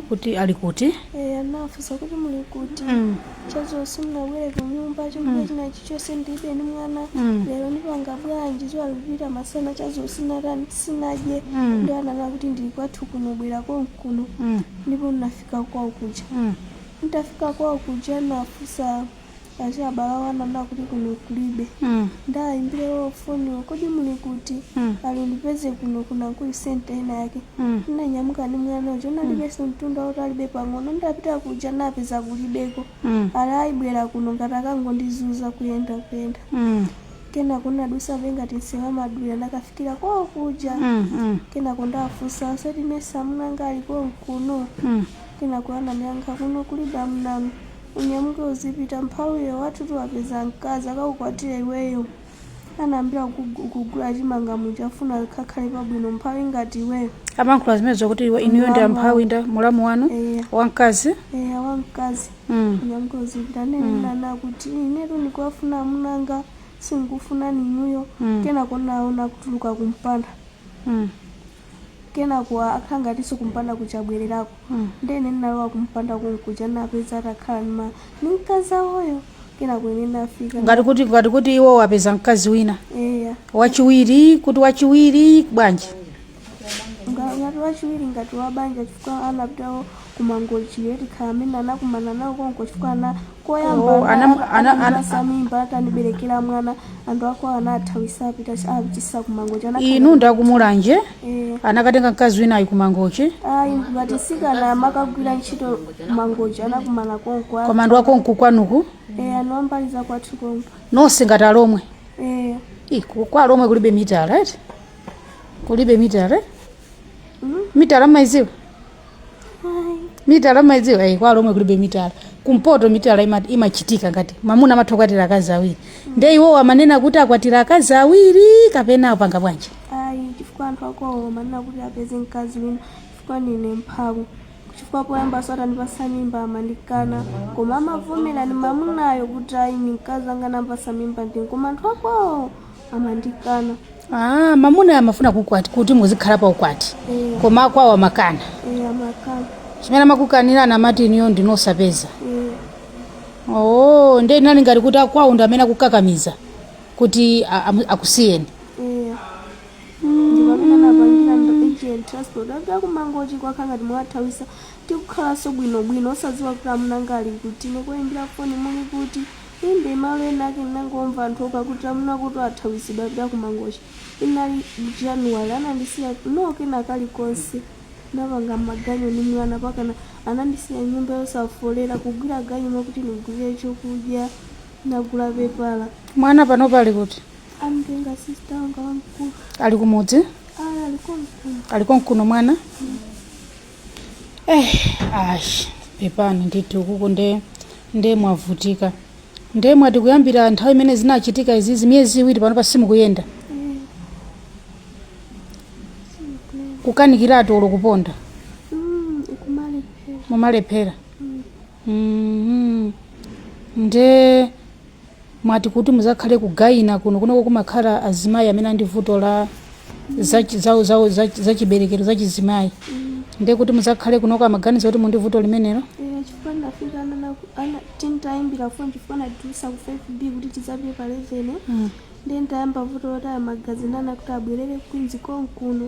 kuti ali kuti Eh, anafunsa kuti muli kuti Mm. chadzulo simunabwere kunyumba chokudya chinachi chonse ndilibe ni mwana Mm. lero nipanga bwanji dzuwa likupita masana chadzulo sinatani sinadye Mm. nde ananena kuti ndili kwathu kuno bwera konkuno Mm, ndipo ndinafika kwawo kuja mm, nditafika kwawo kuja nafunsa achibale awo ananena kuti kuno kulibe Mm. ndawayimbira iwo foniwo kodi muli kuti Mm. ali ndipeze kuno kuna kuli senta ina yake Mm. ndinanyamuka ndi mwana uja unalibenso mtunda wautalibe pang'ono ndapita kuja napeza kulibeko Mm. ali ayi bwera kuno ngati akungondizunza kuyenda kuyenda Mm. kenako ndinadusa pengati msewu wa madulira ndakafikira kwawo kuja Mm. Mm. kenako ndafunsaso eti mesa amunanga ali konkuno Mm. kenako anandiyankha kuno kulibe amunanu Unyamuke uzipita mphawi iwe wathutu wapeza mkazi akakukwatire iweyo anayambira kugu- kugula chimanga muja afuna akhale pabwino mphawi ngati iweyo amayankhula zimenezo kuti iwe- inuyo ndi amphawi nda mulamu wanu eya wamkazi eya wamkazi Mm. unyamuke uzipita nde nanena kuti inetu ndikuwafuna amunanga sindikufuna ninuyo Mm. kenako naona kutuluka kumpanda Mm. Kenako akhala ngatiso kumpanda kuja abwelelako nde ine ndinalowa kumpanda konkuja ndinapeza atakhala ndi ma ndi mkazi awoyo kenako ine ndinafika ngati kuti ngati kuti iwo wapeza mkazi wina eya wachiwiri kuti wachiwiri bwanji Nga- ngati wachiwiri ngati wabanja chifukwa anapitawo kumangochi tikhala amene anakumana nawo konko chifukwa ana koyamba Oh, ana- ana- ana- anandipasa mimba ataniberekera mwana anthu akwawo anawathawisa apita apitisa kumangochi inu ndi akumulanje Eh, anakatenga mkazi winayu kumangochi ayi ngati mtsikana amakagwira ntchito kumangochi anakumana konko koma ndi wakonko kwanuko Eh, anthu a mbali za kwathu konko nonse ngati alomwe Eh, Ih, ku- kwa alomwe kulibe mitala eti kulibe mitala eh? mhm. mitala mumaidziwa mitala maidziwa eh, kwa alomwe kulibe mitala kumpoto mitala ima- imachitika ngati mamuna amatha kukwatira akazi awiri nde iwowo amanena kuti akwatira akazi awiri kapena apanga bwanji ayi chifukwa anthu akwawo amanena kuti apeze mkazi wina chifukwa ndine mphawi chifukwa poyambaso atandipasa mimba amandikana koma amavomera ni mamunayo kuti ayi ni mkazi wanga nampasa mimba ndine koma anthu akwawo amandikana Ah, mamuna amafuna kukwati kuti muzikhala pa ukwati Eh. koma akwawo amakana eh, amakana chimene amakukanirani amati inuyo ndinu osapeza eh, oo nde inali ngati kuti akwawo ndi amene akukakamiza kuti a- amu- akusiyeni eh. ndipamene anapangira ndo agent transport apita kumangochi kwakhala ngati awathawisa tikukhalanso bwinobwino osadziwa kuti amunanga ali kuti nekuyimbira foni muli kuti Inde malo ena ake ndinangomva anthu okha kuti amuna akuti athawisidwa apita ku Mangochi inali January anandisiya no kena kalikonse ndinapanga maganyo ndi mwana pakana anandisiya nyumba yosafolera kugwira ganyu moti nigulire chokudya nagula pepala Mwana panopa ali kuti? amtenga sister wanga wamkulu Ali kumudzi? ayi alikonkuno Alikonkuno mwana? eh ash pepani ndithu kuku nde nde mwavutika nde mwati kuyambira nthawi imene zinachitika izizi miyezi iwiri pano pakana simukuyenda kukanikiratu olo kuponda kumalephera mumalephera Mhm. nde mwati kuti muzakhale ku gynae kuno kunoko kumakhala azimayi amene andi vuto la zachi- zawo- zawo- zachi- zachiberekero zachizimayi nde kuti muzakhale kunoko amaganiza kuti mundi vuto limenelo Eh, chifukwa ndafika anana ana tintayimbira foni chifukwa anatiuza ku 5B kuti tidzapite pa 11 Mm. nde ndayamba vuto lotaya magazi nde anakuti abwerere kwinzi konkuno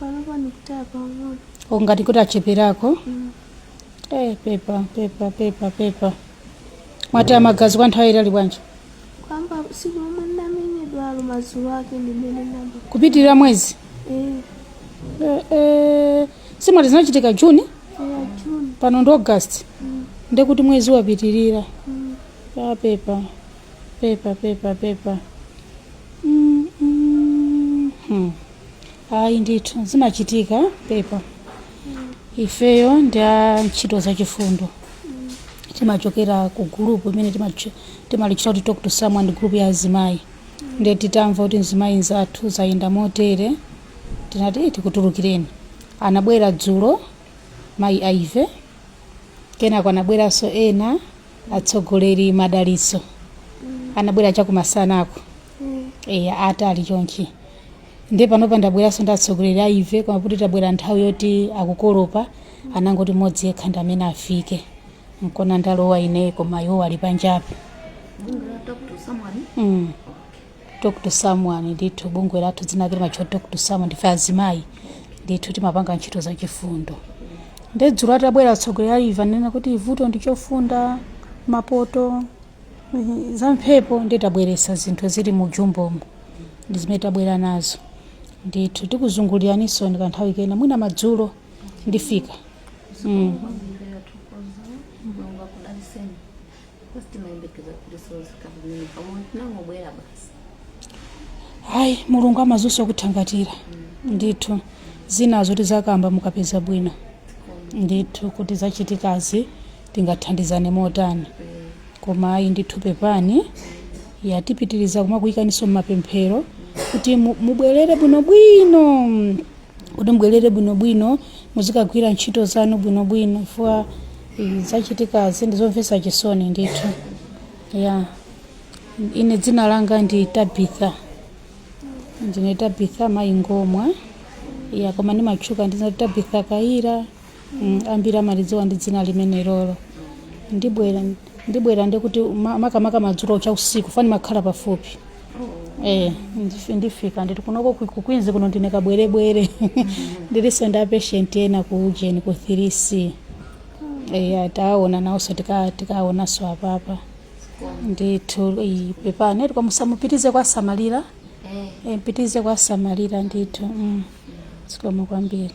Panopa ndikutaya pang'ono. O ngati kuti acheperako. Mm. Eh, pepa, pepa, pepa, pepa. Mwataya magazi kwa nthawi yaitali bwanji? Kuyamba siku lomwe ndamenyedwalo madzulo ake ndimene nayamba. Kupitirira mwezi. Eh, Eh, eh, si mwati zinachitika June eh, June. pano ndi August. Mm, Ndekuti mwezi wapitirira. mm. Ah, pepa. Pepa, pepa, pepa. Mm, mm, hmm. ayi ndithu zimachitika pepa ifeyo ndi a ntchito zachifundo timachokera ku group imene timatch- timalitchula kuti talk to someone group ya azimayi nde titamva kuti mzimayi nzathu zayenda motere tinati "Eh, tikutulukireni anabwera dzulo mayi Ivy kenako anabweranso ena atsogoleri Madalitso anabwera chakumasanako eya ati ali chonchi nde panopa ndabweranso ndi atsogoleri Ivy koma kuti tabwera nthawi yoti akukolopa anangoti mmodzi yekha ndi amene afike nkona ndalowa ine koma iwo ali panjapo mm. talk to someone ndithu bungwe lathu dzina lake limatchula talk to someone ndife azimayi ndithu timapanga ntchito za chifundo nde dzulo atabwera atsogoleri Ivy anena kuti vuto ndi chofunda mapoto Mm, za mphepo nde tabweresa zinthu zili mu jumbomo ndi zimene tabwera nazo ndithu tikuzunguliraninso ndi kanthawi kena mwina madzulo ndifika mm. ayi mulungu amadziwanso kuthangatira ndithu zinazo tizakamba mukapeza bwino ndithu kuti zachitikazi tingathandizane motani koma ayi ndithu pepani ya tipitiriza kumakuyikaninso mmapemphero kuti mu- mubwerere bwinobwino mm, kuti mubwerere bwinobwino muzikagwira ntchito zanu bwinobwino chifukwa eh, zachitikazi ndi zomvetsa chisoni ndithu ya ine dzina langa ndi tabitha ndine tabitha mayi ngomwa ya koma ndimatchuka ndi tabitha kayira ambiri amalidziwa ndi dzina limenelolo ndibwera ndibwera ndikuti ma- makamaka madzulo cha usiku fa nimakhala pafupi Eh, ndif- ndifika nditi kunoko ku- ku Queens kuno ndine kabwerebwere ndiliso ndi apatient ena ku ujeni ku 3c eya taona nawonso tika- tikaonanso apapa ndithu iyi, pepani eti mupitirize kuwasamalira Eh, mupitirize kuwasamalira ndithu mm. zikomo kwambiri